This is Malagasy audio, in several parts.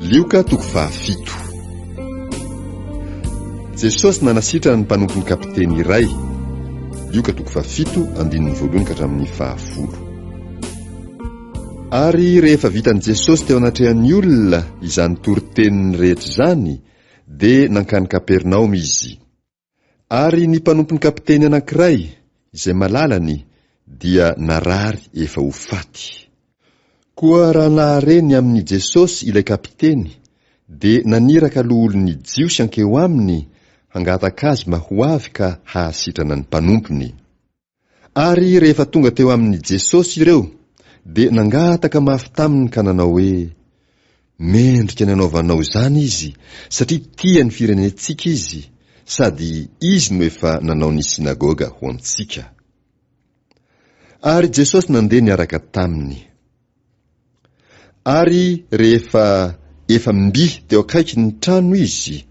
Lioka toko fahafito. Jesosy nanasitrana ny mpanompony kapiteny iray. Lioka toko fahafito andininy voalohany ka hatramin'ny fahafolo. Ary rehefa vitan'i Jesosy teo anatrehan'ny olona izany toriteniny rehetra izany, dia nankany Kapernaomy izy. Ary ny mpanompon'ny kapiteny anankiray, izay malalany, dia narary efa ho faty. Koa raha nahare ny amin'i Jesosy ilay kapiteny, dia naniraka loholon'ny Jiosy hankeo aminy hangataka azy mba ho avy ka hahasitrana ny mpanompony. Ary rehefa tonga teo amin'i Jesosy ireo, dia nangataka mafy taminy ka nanao hoe, Mendrika ny hanaovanao izany izy, satria tia ny firenentsika izy, sady izy no efa nanao ny synagoga ho antsika. Ary Jesosy nandeha niaraka taminy. Ary rehefa efa mby teo akaiky ny trano izy,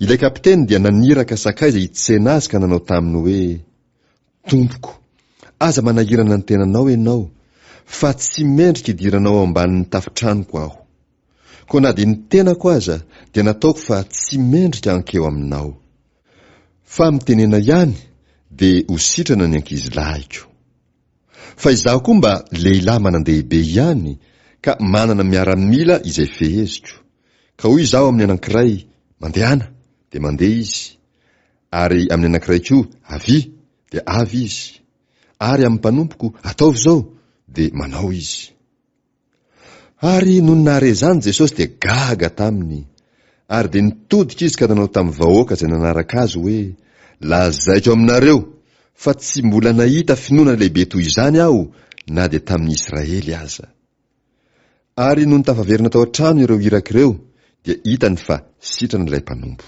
ilay kapiteny dia naniraka sakaiza hitsena azy ka nanao taminy hoe, Tompoko, aza manahirana ny tenanao ianao, fa tsy mendrika hidiranao ao ambanin'ny tafotranoko aho. Koa na dia ny tenako aza dia nataoko fa tsy mendrika hankeo aminao. Fa mitenena ihany, dia ho sitrana ny ankizilahiko. Fa izaho koa mba lehilahy manan-dehibe ihany ka manana miaramila izay feheziko. Ka hoy izaho amin'ny anankiray, Mandehana! dia mandeha izy. Ary amin'ny anankiray koa, Avia! dia avy izy. Ary amin'ny mpanompoko, Ataovy izao! dia manao izy. Ary nony nahare izany Jesosy dia gaga taminy. Ary dia nitodika izy ka nanao tamin'ny vahoaka izay nanaraka azy hoe, Lazaiko aminareo fa tsy mbola nahita finoana lehibe toy izany aho na dia tamin'ny Israely aza. Ary nony tafaverina tao an-trano ireo iraka ireo dia hitany fa sitrana ilay mpanompo.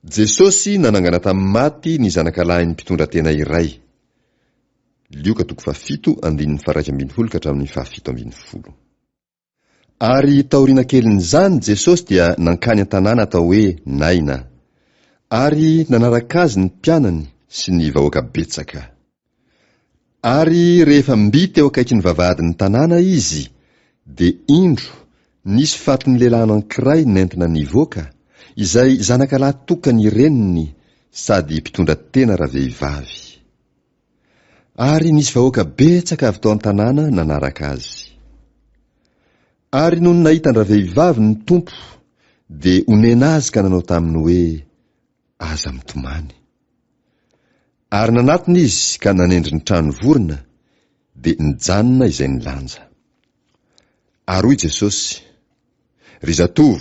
Jesosy nanangana tamin'ny maty ny zanakalahin'ny mpitondra tena iray. Lioka toko fahafito, andininy faharaika ambin'ny folo ka hatramin'ny fahafito ambin'ny folo. Ary taoriana kelin'izany Jesosy dia nankany an-tanàna atao hoe Naina. Ary nanaraka azy ny mpianany sy ny vahoaka betsaka. Ary rehefa mby teo akaikin'ny vavahadin'ny tanàna izy, dia indro, nisy fatin'ny lehilahy anankiray nentina nivoaka, izay zanaka lahy tokan'ny reniny, sady mpitondra tena ravehivavy. Ary nisy vahoaka betsaka avy tao an-tanàna nanaraka azy. Ary nony nahita an-dravehivavy ny Tompo, dia onena azy ka nanao taminy hoe, Aza mitomany. Ary nanatona izy ka nanendry ny trano vorona, dia nijanona izay nilanja. Ary hoy Jesosy, Ry zatovo,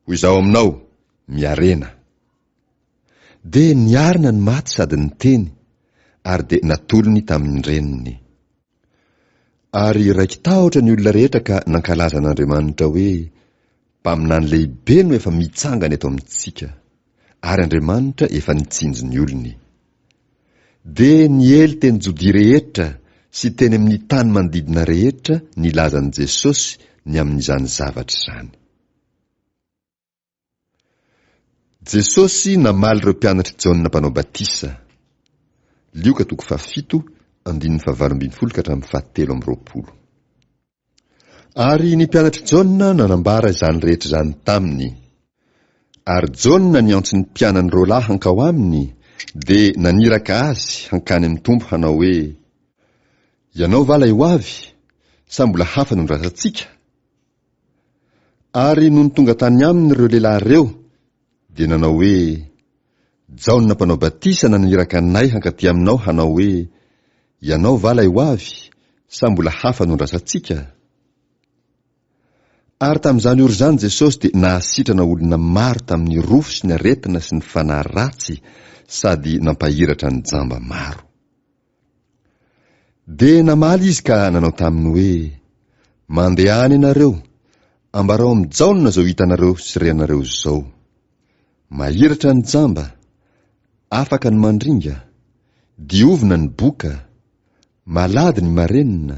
ho izaho aminao, miarena. Dia niarina ny maty sady niteny, ary dia natolony tamin' ny reniny. Ary raiki-tahotra ny olona rehetra ka nankalaza an'Andriamanitra hoe, Mpaminany lehibe no efa mitsangana eto amintsika, ary Andriamanitra efa nitsinjo ny olony. Dia niely teny Jodia rehetra sy teny amin'ny tany manodidina rehetra ny lazan'i Jesosy ny amin'izany zavatra izany. Jesosy namaly ireo mpianatr'i Jaona Mpanao Batisa. Lioka toko fahafito, andininy fahavalo ambin'ny folo ka hatramin'ny fahatelo amby roapolo. Ary ny mpianatr'i Jaona nanambara izany rehetra izany taminy. Ary Jaona niantso ny mpianany roalahy hankao aminy, dia naniraka azy hankany amin'ny Tompo hanao hoe, Ianao va ilay ho avy, sa mbola hafa no nirasantsika? Ary nony tonga tany aminy ireo lehilahy ireo, dia nanao hoe, Jaona mpanao batisa naniraka anay hankatỳ aminao hanao hoe, Ianao va ilay ho avy, sa mbola hafa no andrasantsika? Ary tamin'izany ora izany Jesosy dia nahasitrana olona maro tamin'ny rofy sy ny aretina sy ny fanahy ratsy sady nampahiratra ny jamba maro. Dia namaly izy ka nanao taminy hoe, Mandehana ianareo, ambarao amin'i Jaona izao hitanareo sy renareo izao. Mahiratra ny jamba, afaka ny mandringa, diovina ny boka, malady ny marenina,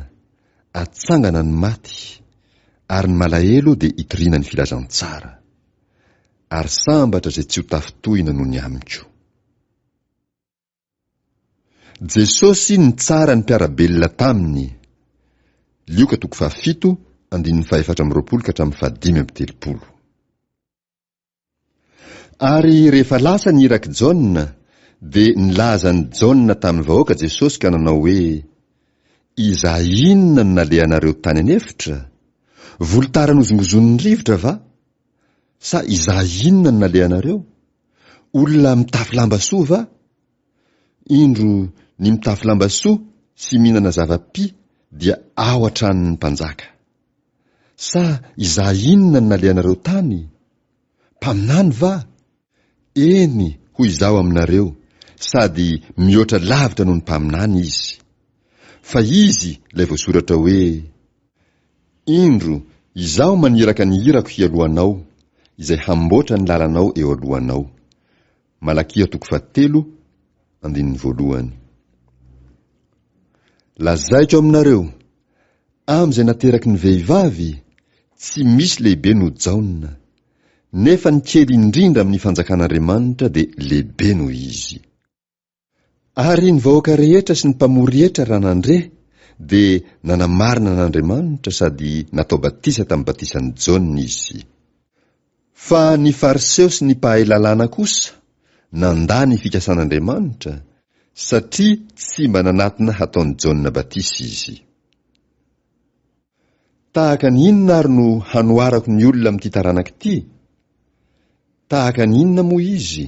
atsangana ny maty, ary ny malahelo dia itoriana ny filazantsara. Ary sambatra izay tsy ho tafintohina noho ny amiko. Jesosy nitsara ny mpiara-belona taminy. Lioka toko fahafito, andininy fahefatra amby roapolo ka hatramin'ny fahadimy amby telopolo. Ary rehefa lasa ny irak'i Jaona, dia nilaza an'i Jaona tamin'ny vahoaka Jesosy ka nanao hoe, Izay inona no nalehanareo tany an'efitra? Volotara nozongozon'ny rivotra va? Sa izaho inona no nalehanareo? Olona mitafy lamba soa va? Indro ny mitafy lamba soa sy mihinana zava-pi dia ao an-tranon'ny mpanjaka. Sa izaho inona no nalehanareo tany? Mpaminany va? Eny, hoy Izaho aminareo, sady mihoatra lavitra noho ny mpaminany izy. Fa izy, ilay voasoratra hoe, Indro, Izaho maniraka ny irako hialohanao, izay hamboatra ny lalanao eo alohanao. Malakia toko fahatelo, andininy voalohany. Lazaiko aminareo, amin'izay nateraky ny vehivavy, tsy misy lehibe noho Jaona. nefa ny kely indrindra amin'ny fanjakan'Andriamanitra dia lehibe noho izy. Ary ny vahoaka rehetra sy ny mpamory hetra raha nandre dia nanamarina an'Andriamanitra sady natao batisa tamin'ny batisan'i Jaona izy. Fa ny Fariseo sy ny mpahay lalàna kosa nandà ny fikasan'Andriamanitra satria tsy mba nanatona hataon'i Jaona batisa izy. Tahaka ny inona ary no hanoharako ny olona amin'ity taranaka ity? Tahaka ny inona moa izy?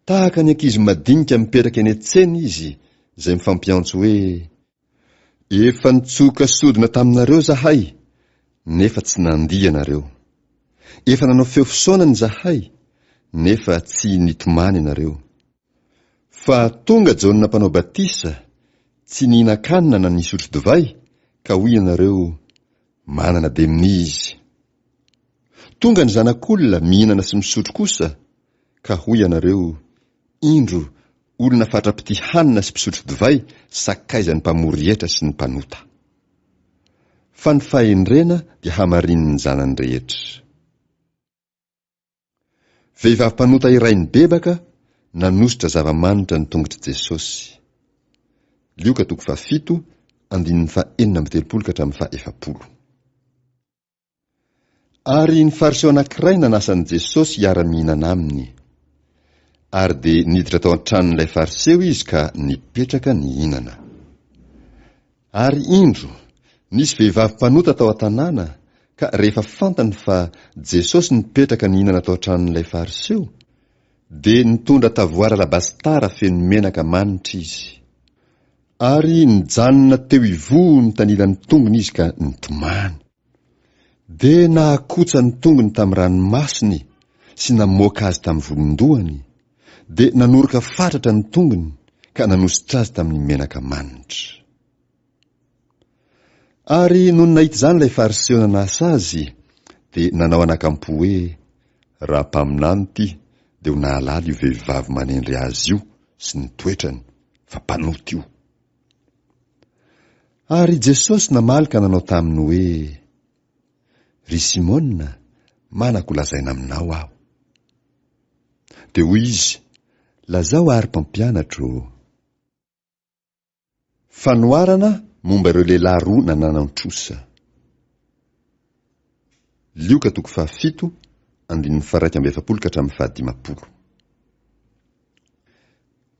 Tahaka ny ankizy madinika mipetraka eny an-tsena izy izay mifampiantso hoe, Efa nitsoka sodina taminareo izahay, nefa tsy nandia ianareo. Efa nanao feo fisaonana izahay, nefa tsy nitomany ianareo. Fa tonga Jaona Mpanao Batisa, tsy nihinan-kanina na nisotro divay, ka hoy ianareo, 'Manana demonia izy. Tonga ny Zanak'Olona mihinana sy misotro kosa, ka hoy ianareo, 'Indro, olona fatra-pitia hanina sy mpisotro divay, sakaizan'ny mpamory hetra sy ny mpanota. Fa ny fahendrena dia hamarinin'ny zanany rehetra. Vehivavy mpanota iray nibebaka nanosotra zava-manitra ny tongotr'i Jesosy. Lioka toko fahafito, andininy fahenina amby telopolo ka hatramin'ny fahefapolo. Ary ny Fariseo anankiray nanasa an'i Jesosy hiara-mihinana aminy. Ary dia niditra tao an-tranon'ilay Fariseo izy ka nipetraka nihinana. Ary indro, nisy vehivavy mpanota tao an-tanàna, ka rehefa fantany fa Jesosy nipetraka nihinana tao an-tranon'ilay Fariseo, dia nitondra tavoara alabasitara feno menaka manitra izy. Ary nijanona teo ivoho nitanilan'ny tongony izy ka nitomany. Dia nahakotsa ny tongony tamin'ny ranomasony sy namoaka azy tamin'ny volon-dohany, dia nanoroka fatratra ny tongony ka nanosotra azy tamin'ny menaka manitra. Ary nony nahita izany ilay Fariseo nanasa azy, dia nanao anakampo hoe, Raha mpaminany ity, dia ho nahalala io vehivavy manendry azy io sy ny toetrany, fa mpanota io. Ary Jesosy namaly ka nanao taminy hoe, Ry Simôna, manako ho lazaina aminao aho. Dia hoy izy, Lazao àry Mpampianatro ô. Fanoharana momba ireo lehilahy roa nananantrosa. Lioka toko fahafito, andininy faharaika amby efapolo ka hatramin'ny fahadimampolo.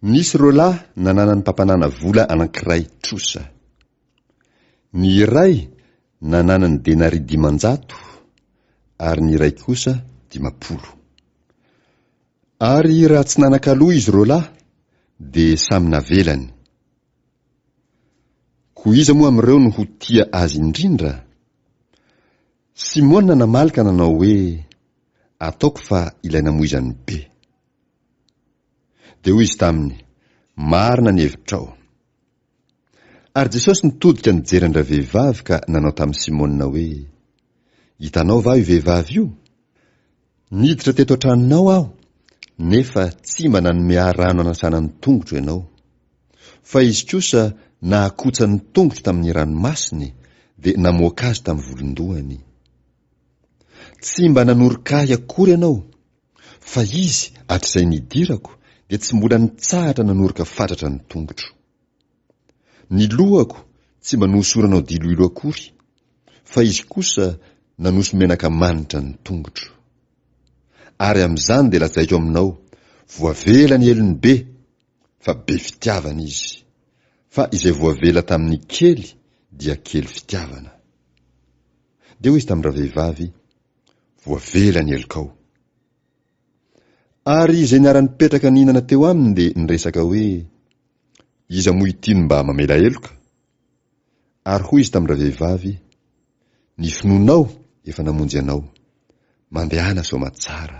Nisy ireo lahy nananan'ny mpampanana vola anankiray trosa. Ny iray nananany denaria dimanjato ary ny iray kosa dimampolo. Ary raha tsy nanan-kaloa izy ireo lahy, dia samy navelany. Koa iza moa amin'ireo no ho tia azy indrindra? Simona namaly ka nanao hoe, Ataoko fa ilay namoizan'ny be. Dia hoy izy taminy, Marina ny hevitrao. Ary Jesosy nitodika nijery an-dravehivavy ka nanao tamin'i Simôna hoe, Hitanao va io vehivavy io? Niditra teto an-tranonao aho, nefa tsy mba nanome ahy rano hanasana ny tongotro ianao. Fa izy kosa nahakotsa ny tongotro tamin'ny ranomasony, dia namoaka azy tamin'ny volon-dohany. Tsy mba nanoroka ahy akory ianao. Fa izy, hatrizay nidirako, dia tsy mbola nitsahatra nanoroka fatratra ny tongotro. Ny lohako tsy mba nohosoranao diloilo akory, fa izy kosa nanoso menaka manitra ny tongotro. Ary amin'izany dia lazaiko aminao, voavela ny helony be, fa be fitiavana izy, fa izay voavela tamin'ny kely dia kely fitiavana. Dia hoy izy tamin-dravehivavy, Voavela ny helokao. Ary izay niara-nipetraka nihinana teo aminy dia niresaka hoe, Iza moa ity no mba mamela heloka? Ary hoy izy tamin-dravehivavy, Ny finoanao efa namonjy anao. Mandehana soamatsara.